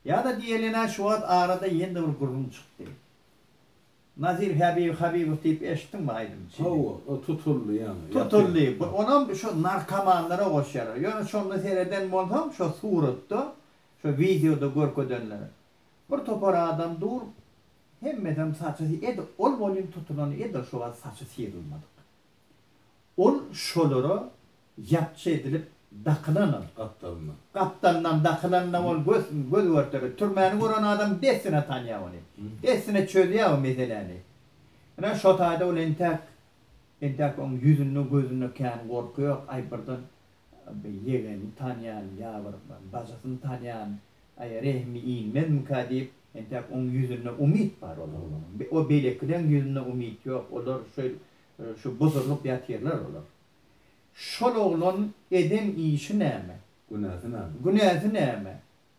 Ýa-da diýelin-ä şu wagt arada ýene-de bir gürrüň çykdy. Nazir Häbibi Habibow diýip eşitdiňmi aýdymçyny? Hawa, o tutuldy ýaňy. Tutuldy. Onam şo narkomanlara goşýarlar. Ýöne şonda sereden bolsaň, şo suratda, şo wideoda görkezenlere. Bir topar adam dur, hemmesem saçy edil ol welin tutulany edil şu wagt saçy syrylmadyk. Ol şolara ýapjy edilip dakylanam gapdalyndan. Gapdalyndan dakylanda ol göz göz görter. Türmäni gören adam dessine tanýar ony. Dessine çözýär o meseläni. Ine, şo taýda ol entäk entäk oň ýüzünde, gözünde kän gorky ýok. Aý, birden Bir ýegenini tanýan, ýa bir bajysyny tanýan, aý, rehimi inmezmikä diýip, entäk oň ýüzünde umyt bar ol oglanyň. O beýlekileň ýüzünde umyt ýok, olar şeýle, şu buzurlyp ýatyrlar olar. Şol oglan eden işi näme? Günäsi näme? Günäsi näme?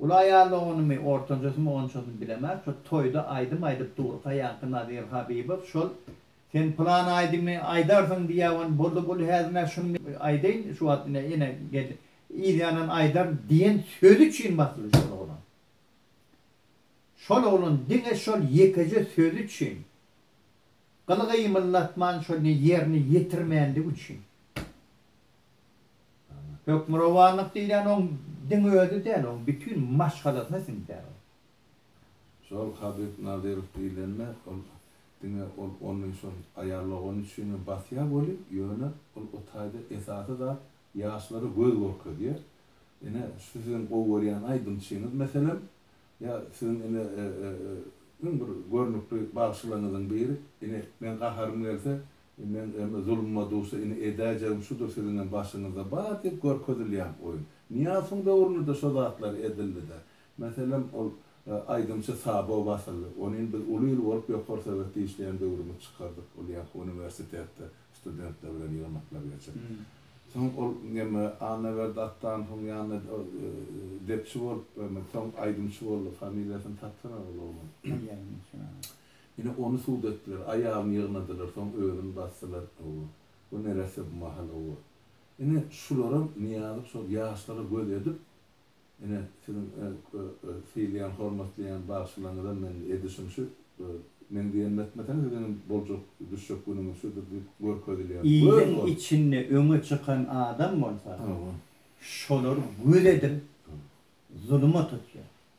Uly aýal doganymy, ortanjasymy onçasyny bilemok, şo toýda aýdym aýdyp durka ýaňky Nazir Habibow şol Sen plan aýdymy aýdarsyň diýäwen boldy bul häzir nä şuny men aýdaýyn şu wagt ine ene geldi yzýandan aýdaryn diýen sözi üçin basyldy şol oglan. Şol oglan diňe şol ýekeje sözi üçin gyl gymyldatman şony ýerine ýetirmänligi üçin. Hökmürowanlyk diýlen oň diňe özi däl, oň bütin maşgalasyna siňýär ol. Şol Habyp Nazyrow diýlende ol diňe ol ony şol aýal dogany üçinem basýar welin, ýöne ol o taýda esasy zat ýaşlara göz görkezýär. Ine, şu siziň gowy görýän aýdymçyňyz meselem, ýa siziň ine iň bir görnükli bagşylaryňyzyň biri, ine, meň gaharym gelse, Men em zuluma dusa ini edäýjegim şudur siziňem başyňyzda bar diýip görkezilýän oýun. Nyýasowyň döwründe-de şo zatlar edildi-de. Meselem ol aýdymçy Sabo basyldy. Ony ini biz uly il bolup ýokary sowet işleýän döwrümiz çykardyk. Ol ýaňky uniwersitetde studentler bilen ýygnaklar geçip. Soň ol em Annaberdi Attanowyň ýanynda depçi bolup em soň aýdymçy boldy. Familiýasyny tapsana ol oglan. Ine, ony sud etdiler. Aýalyny ýygnadylar, soň özüni basdylar. Hawa. Bu neresse bu mahal? Hawa. Ine, şularam Nyýazow şol ýaşlara göz edip, ine, siziň sylaýan, hormatlaýan bagşylaryňyzam men edişim şu, meň diýenimi etmeseňiz siziňem boljak, düşjek günüňiz şudur diýip görkezilýär. Iliň içinde öňe çykan adam bolsa, şolar göz edip, zuluma tutýar.